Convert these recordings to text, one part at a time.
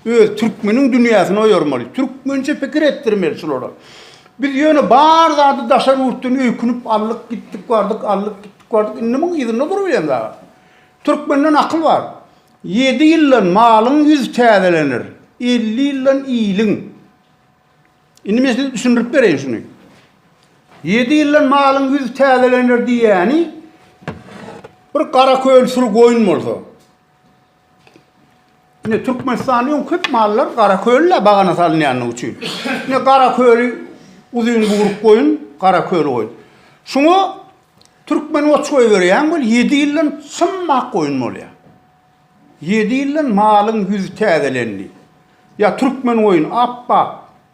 Öz türkmeniň dünýäsini oýarmaly, türkmençe pikir etdirmeli şulara. Biz ýöne bar zady daşary ýurtdan öýkünip aldyk, gitdik bardyk, aldyk, gitdik bardyk, indi muň yzynda durup ýen dagy. Türkmenden akyl bar. Ýedi ýyldan malyň ýüz täzelener, elli ýyldan iliň. Indi men size düşündirip bereýin şuny. Ýedi ýyldan malyň ýüz täzelener diýýäni bir gara köl sürü goýun bolsa, Ine Türkmenistanda öň köp mallar Garakölde bagana salynýandygy üçin. Ine Garaköli uzyn guýruk goýun, Garaköli goýun. Şuňa türkmen oç goýberýäň bol, 7 ýyldan çym ak goýun bolýar. 7 ýyldan malyň ýüzi täzelendi. Ýa türkmen goýun ap-ak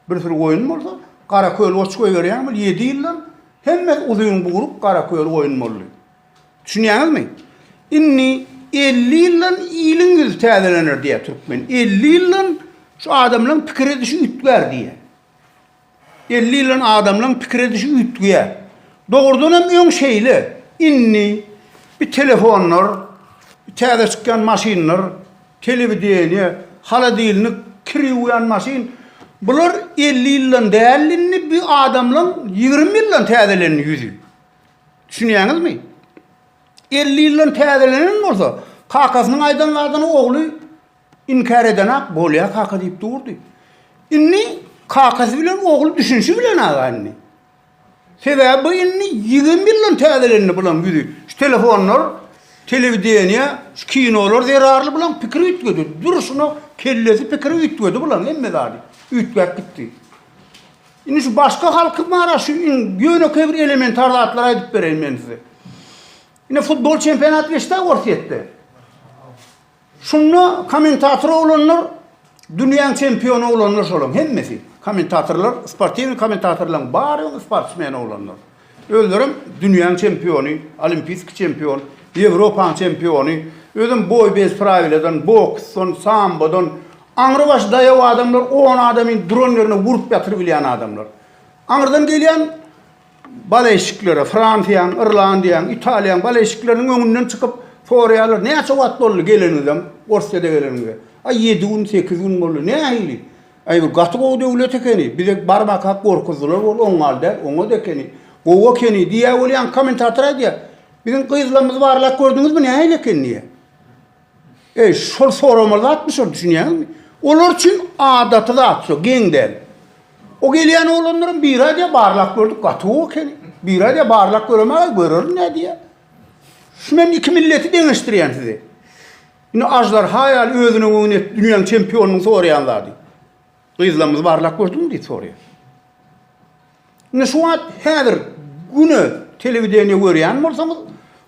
bir sürü goýun bolsa, Garaköli oç goýberýäň bol, 7 ýyldan hemmesi uzyn guýruk Garaköli goýun boldy. Düşünýäňizmi? Indi elli ýyldan iliň ýüzi täzelener diýýär türkmen. Elli ýyldan şu adamlaryň pikir edişi üýtgär diýýär. Elli ýyldan adamlaryň pikir edişi üýtgär. Dogrudan hem öň şeýle. Indi bir telefonlar, täze çykýan maşynlar, telewideniýe, holodilnik, kir ýuwýan maşyn, bular elli ýyldan däldi, indi bu adamlaryň ýigrimi ýyldan täzelendi ýüzi. Düşünýäňizmi? Elli ýyldan täzelenen bolsa, kakasynyň aýdan zadyny ogly inkär edenak, bolýa kaka diýip durdy. Indi kakasy bilen ogly düşünşi bilenaga indi. Sebäbi bu indi ýigrimi ýyldan täzelendi bulaň ýüzi. Şu telefonlar, telewideniýe, şu kinolar zerarly bulaň pikiri üýtgedi. Durşuna kellesi pikiri üýtgedi bulaň hemme zady. Üýtgäp gitdi. Indi şu başga halky bara şu in ýönekeý bir elementar zatlary aýdyp bereýin men size. Indi futbol çempionaty geçdi Orsýetde. Şunda kommentator oglanlar dünýäň çempiony oglanlar şolaň hemmesi. Kommentatorlar, sportiwny kommentatorlaryň bary sportsmen oglanlar. Özlerem dünýäň çempiony, olimpiski çempion, Ýewropaň çempiony, özem boý bez prawiladan, boksdan, sambodan, aňry başy daýaw adamlar on adamy duran ýerine urup ýatyrybilýän adamlar. Aňyrdan gelýän baleşiklere, Fransiýaň, Irlandiýaň, Italiýaň baleşikleriniň öňünden çykyp soraýarlar, näçe wagt boldy geleniňizem, Orsiýada geleniňize? Aý ýedi gün, sekiz gün boldy. Nähili? Aý bu gaty gowy döwlet ekeni, bize barmakak gorkuzdylar ol oňňal däl, oňat ekeni, gowy ekeni diýýä ol ýaňky kommentator aýdýa. Biziň gyzlamyzy barlap gördüňizmi nähili eken diýýä. Eý şol soramaly zatmy şol düşünýäňizmi? Olar üçin adaty zat şu, geň däl. O gelýän oglanlaram biri aýdýa barlap gördük gaty gowy ekeni. Biri aýdýa barlap göremäge görerin nädýä. Şu men iki milleti deňeşdirýän size. Indi aždarha ýaly özüne göwün et, dünýäň çempionynyň soraýan zady. Gyzlamyzy barlap gördüňmi diýip soraýar. Indi şu wagt häzir güne telewideniýe görýän bolsaňyz,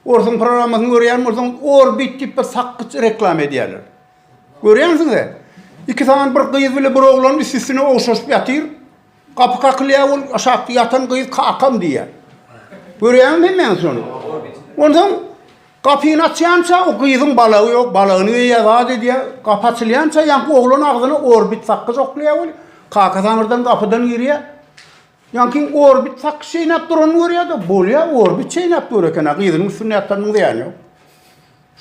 orsuň programmasyny görýän bolsaňyz, Orbit diýip bir sakgyç reklama edýärler. Görýänsiňiz-ä? Iki sany bir gyz bile bir oglan üst-üstüne ogşaşyp ýatyr. Gapy kakylýar, ol aşakda ýatan gyz kakam diýýär. Görýäňmi hemmäňiz şony? Onsoň gapyny açýança o gyzyň balagy ýok, balagyny geýýär, zat edýär. Gapy açylýança ýaňky oglan agzyna orbit sakgyç oklaýar weli, kakasy aňyrdan gapydan girýär. Ýaňky orbit sakgyç çeýnäp duranyny görýär-de, bolýar, orbit çeýnäp dur eken-ä, gyzynyň üstünde ýatanynyň zyýany ýok.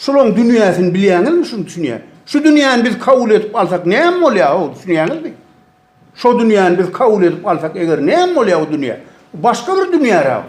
Şularyň dünýäsini bilýäňizmi, şuny düşünýär. Şu dünýäni biz kabul edip alsak näme bolýar-ow, düşünýäňizmi? Şo dünýäni biz kabul edip alsak eger näme bolýar o dünýä? Başga bir dünýä-ä bu.